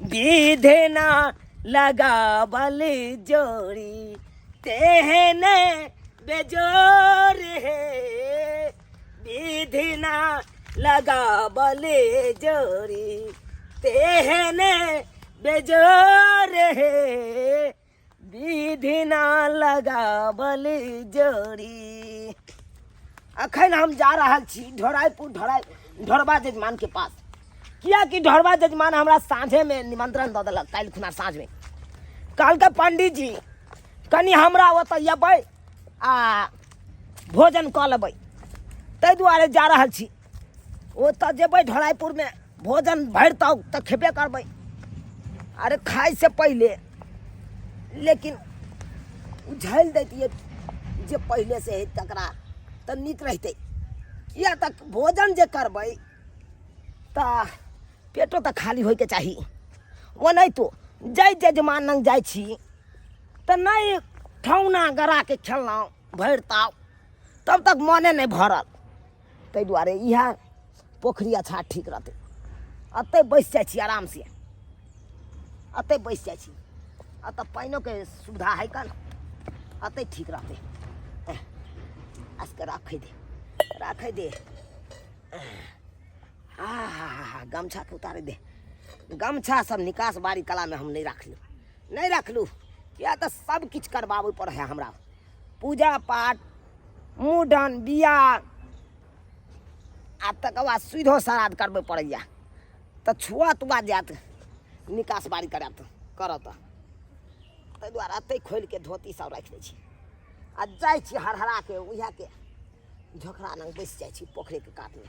विधे ना लगावल जोड़ी तेहने बेजोर हे विधि ना लगावल जोड़ी तेहने बेजोर हे विधि ना लगावल जोड़ी अखन हम जा रहल छी ढोराइपुर ढोराइ ढोरबा जजमान के पास किया कि ढोरबा जजमान हमरा साँझे में निमंत्रण दऽ देलक काल्हि खुना साँझ में कहलकै पंडित जी कनि हमरा ओतऽ अयबै आ भोजन कऽ लेबै ताहि दुआरे जा रहल छी ओतऽ जेबै ढोलाइपुरमे भोजन भरि तब तऽ खेबे करबै अरे खाइ से पहिले लेकिन उ झेल दैतियै जे पहिले से है तकरा तऽ नीक रहितै किया तऽ भोजन जे करबै तऽ पेटो तऽ खाली होइके चाही ओनाहितो जय जजमान लग जाइ छी तऽ नहि ठौना गड़ाके खेलहुँ भरि ताव तब तक मोने नहि भरल ताहि दुआरे इएह पोखरि अच्छा ठीक रहतै एतहि बैसि जाइ छी आरामसँ एतहि बैसि जाइ छी एतऽ पानिओके सुविधा हइ कन एतहि ठीक रहतै एह, आसके राखै दे राखै दे आ हा हा हा गमछाके उतारे दे गमछा सब निकास बारी कलामे हम नहि राखलहुँ नहि राखलहुँ किया तऽ सब किछु करबाबै पड़ै हइ हमरा पूजा पाठ मुडन बियाह आ तकर बाद सुधो श्राद्ध करबे पड़ैया तऽ छुआ तुआ जायत निकास बारी करत करत ताहि दुआरे एतै खोलि कऽ धोती सब राखि लै छी आ जाइ छी हरहरा के उएह के झोकरा लग बैस जाइ छी पोखरिके कातमे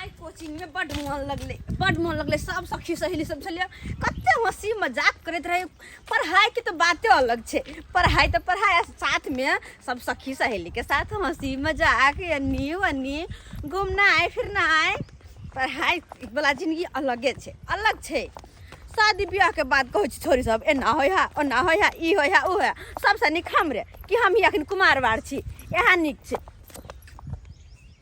आइ कोचिंगमे बड्ड मोन लगलै बड्ड मोन लगलै सब सखी सहेली सब छलियै कते हँसी मजाक करैत रहै पढ़ाइके तऽ बाते अलग छै पढ़ाइ तऽ पढ़ाइ आ साथमे सब सखी सहेलीके साथ हँसी मजाक एन्नी ओन्नी घुमनाइ फिरनाइ पढ़ाइ वाला जिनगी अलगे छै अलग छै शादी ब्याहके बाद कहै छै छोरी सब एना होइ है ओना होइ है ई होइ है ओ है सबसँ नीक हम रे कि हमही अखन कुमारवार छी इएह नीक छै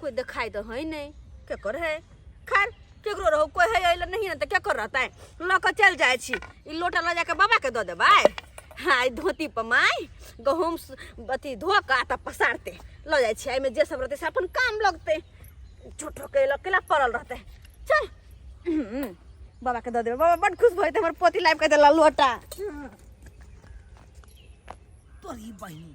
कोई दिखाई तो है नहीं क्या कर है खैर केकरो रहो कोई है अइले नहीं ना तो क्या कर रहता है ल के चल जाए छी ई लोटा ल जाके बाबा के दे देबै हाँ ई धोती पर माय गहूम स- अथी धो के आटा पसारते ल जाए छी एहिमे जे सब रहते से अपन काम लगते झूठो के लकेला पड़ल रहते चल हम्म, बाबा के दे देबै बाबा बड खुश भइते हमर पोती लाइब के देला लोटा तोरी बहिनी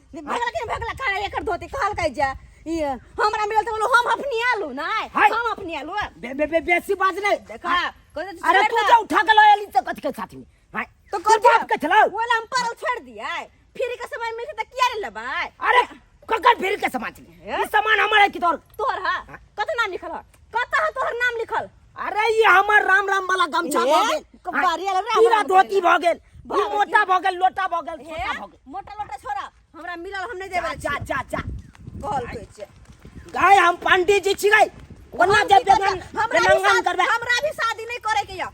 भगला के भगला खा एकर धोती कहल कह जा ई हमरा मिलल त बोलो हम अपनी आलू नहीं हाय। हम अपनी आलू बे बे बे बेसी बात नहीं देखा कहते तो अरे छोड़ तू दा। जो उठा के लाया ली तो कथी के साथ में हाय तो तो कर कर बाप के चलाओ बोला हम परल छोड़ दिया फिर के समय मिलते त किया ले लेबै अरे ककर फिर के समाज ले ये? ये सामान हमारा है कि तोर तोर हा कतना निकल कत है तोहर नाम लिखल अरे ये हमर राम राम वाला गमछा भ गेल कबारी वाला राम राम धोती भ गेल मोटा भ गेल लोटा भ गेल छोटा भ गेल मोटा लोटा छोरा हमरा मिलल हम नहीं देबे जा जा जा कहल के छै गाय हम पंडित जी छियै ओना जे बेगन बेगन करबे हमरा भी शादी नहीं करे के या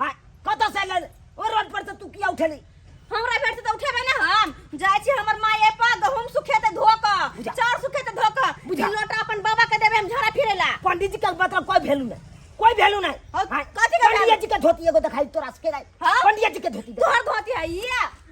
आ कत से ले ओ रोड पर से तू किया उठेली हमरा भेट से त उठेबे ना हम जाय छी हमर माय ए पर गहूम सुखे त धो क बुझा। चाउर सुखे त धो क बुझा। ई लोटा अपन बाबा के देबे हम झड़ा फिरेला पंडित जी के मतलब कोई वैल्यू नहीं कोई वैल्यू नहीं और हाँ, कथी के पंडित value? जी के धोती एगो दिखाई तोरा सके नहीं हाँ? पंडित जी के धोती दिखाई। तोहर धोती है ये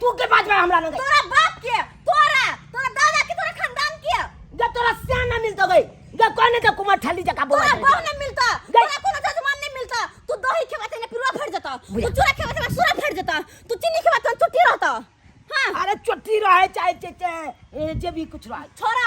तू के बात में हमरा लगे तोरा बाप के तोरा तोरा दादा के तोरा खानदान के जब तोरा स्यान ना मिलतो गई जब कोने के कुमार ठल्ली जका बोला तोरा बहु नहीं मिलता तोरा कोनो जजमान नहीं मिलता तू दही खेवा तेने पिरुआ फट जाता तू चूरा खेवा तेने सूरा फट जाता तू चीनी खेवा तेने चुट्टी रहता हां अरे चुट्टी रहे चाहे चाहे जे भी कुछ रहे छोरा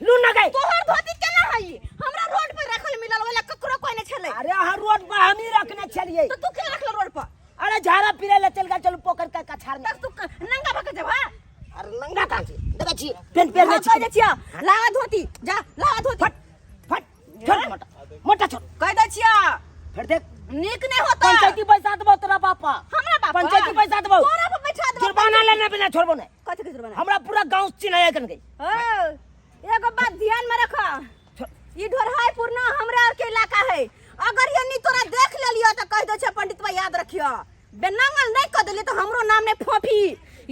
लू ना गई तोहर धोती केना हई हमरा रोड पर रखल मिलल वाला ककरो कोई नहीं छले अरे हर रोड पर हम ही रखने छलिए तो तू के रखल रोड पर अरे झाड़ा पीरे ले चल गए चलू पोखर का कछार में तब तू क- नंगा भक देबा अरे नंगा कहाँ छी देखा छी पेन पेन में छी छिया लावा धोती जा लावा धोती फट फट छोड़ मोटा मोटा छोड़ कह दै छिया फिर देख नीक नहीं होता पंचायती पैसा देबो तोरा पापा हमरा बाप पंचायती पैसा देबो तोरा पर बैठा देबो जुर्माना लेने बिना छोड़बो नहीं कथि के जुर्माना हमरा पूरा गांव चिन्हाया कर गई ओ एगो बात ध्यान में रख ई ढोरहाई पूर्णा हमरा के इलाका है अगर ये नहीं तोरा देख लेलियो तो कह दो छे पंडित भाई याद रखियो बे नंगल नहीं कर दिले तो हमरो नाम नहीं फोफी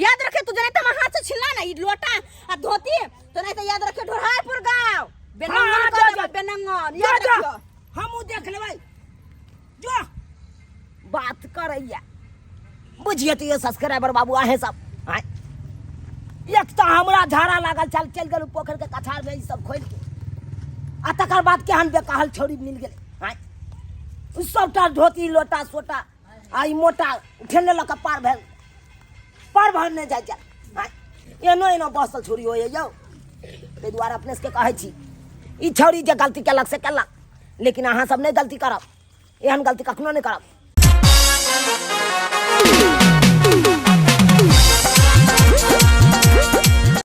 याद रखे तू जने तो मैं हाथ से छिला ना ई लोटा आ धोती तो नहीं तो याद रखे ढोरापुर गांव बे हाँ, नंगल हाँ, जा, कर जा। देबे बे नंगल जा याद जा रखियो हमू देख लेबै जो बात करैया बुझिए तो ये सब्सक्राइबर बाबू आहे सब आय। एक तो हमरा झाड़ा लागल चल चल गेल पोखर के कछार में ई सब खोल के आ तकर बाद केहन बेकाहल छोड़ी मिल गेल आय। ई सबटा धोती लोटा सोटा आ ई मोटा ठेले लऽ कऽ पार भेल पार भर नहि जाइ छै आ, एनो एनो बसल छोरी होइए यौ ताहि दुआरे अपने सबके कहै छी ई छौरी जे गलती केलक से केलक लेकिन अहाँ सब नहि गलती करब एहन गलती कखनो नहि करब